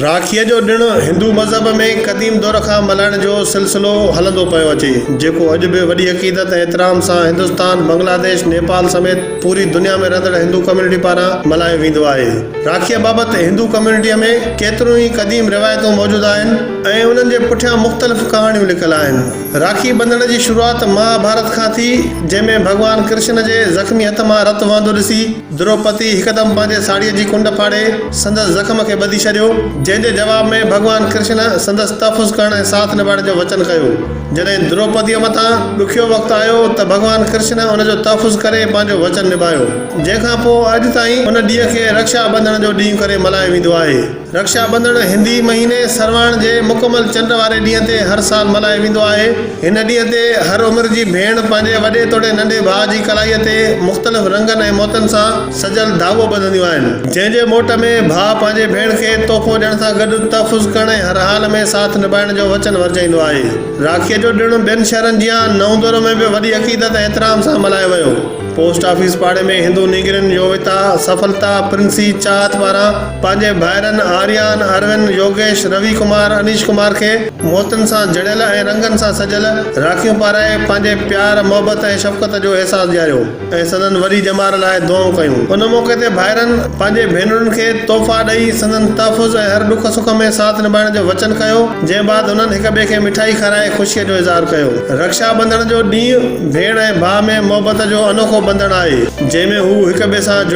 راکيء جو ڏڻ هندو مذهب ۾ قديم دؤر کان ملهائڻ جو سلسلو هلندو پيو اچي، جيڪو اڄ به وڏي عقيدت ۽ احترام سان هندستان، بنگلاديش، نيپال سميت پوري دنيا ۾ رهندڙ هندو ڪميونٽي پاران ملهايو ويندو آهي. راکيء بابت هندو ڪميونٽيء ۾ ڪيتريون ئي قديم روايتون موجود آهن ۽ انهن جي پٺيان مختلف ڪهاڻيون لڪل آهن. راکي ٻڌڻ جي شروعات مها ڀارت کان ٿي، جنهن ۾ ڀڳوان ڪرشن جي زخمي هٿ مان رت وهندو ڏسي، دروپتي هڪدم پنهنجي ساڙهيء جي ڪنڊ ڦاڙي سندس زخم کي ٻڌي ڇڏيو، جنهن جي جواب ۾ ڀڳوان ڪرشن سندس تحفظ ڪرڻ ۽ ساٿ نڀائڻ جو وچن ڪيو. جڏهن دروپتيء مٿان ڏکيو وقت آيو ته ڀڳوان ڪرشن ان جو تحفظ ڪري پنهنجو وچن نڀايو، جنهن کان پوء اڄ تائين ان ڏينهن کي رڪشا ٻنڌڻ جو ڏينهن ڪري ملهايو ويندو آهي. رڪشا ٻنڌڻ هندي مهيني سرواڻ جي مڪمل چنڊ واري ڏينهن تي هر سال ملهايو ويندو آهي. هن ڏينهن تي هر عمر جي ڀيڻ پنهنجي وڏي توڙي ننڍي ڀاء جي ڪلائيء تي مختلف رنگن ۽ موتين سان سجيل ڌاڳو ٻڌنديون آهن، جنهن جي موٽ ۾ ڀاء پنهنجي ڀيڻ کي تحفو ڏيڻ سان گڏ تحفظ ڪرڻ ۽ هر حال ۾ ساٿ نڀائڻ جو وچن ورجائيندو آهي. راکيء جو ڏڻ ٻين شهرن جيان نئوندورو ۾ به وڏي عقيدت ۽ احترام سان ملهايو ويو. پوسٽ آفيس پاڙي ۾ هندو نينگرين يوويتا سڦلتا پرنسي چاهت پاران پنهنجي ڀائرن آريان، اروند، يوگيش، روي ڪمار، انيش ڪمار کي موتين سان جڙيل ۽ رنگن سان سجيل راکيون پارائي پنهنجي پيار، محبت ۽ شفقت جو احساس ڏياريو ۽ سندن وري ڄمار لاء دعائون ڪيون. ان موقعي تي ڀائرن پنهنجي ڀينرن کي تحفا ڏئي سندن تحفظ ۽ هر ڏک سک ۾ ساٿ نڀائڻ جو وچن ڪيو، جنهن بعد هنن هڪ ٻئي کي مٺائي کارائي خوشيء جو اظهار ڪيو. رڪشا ٻنڌڻ جو ڏينهن ڀيڻ ۽ ڀاء ۾ محبت جو انوکو ٻنڌڻ آهي، جنهن ۾ هو هڪ ٻئي سان جڙيل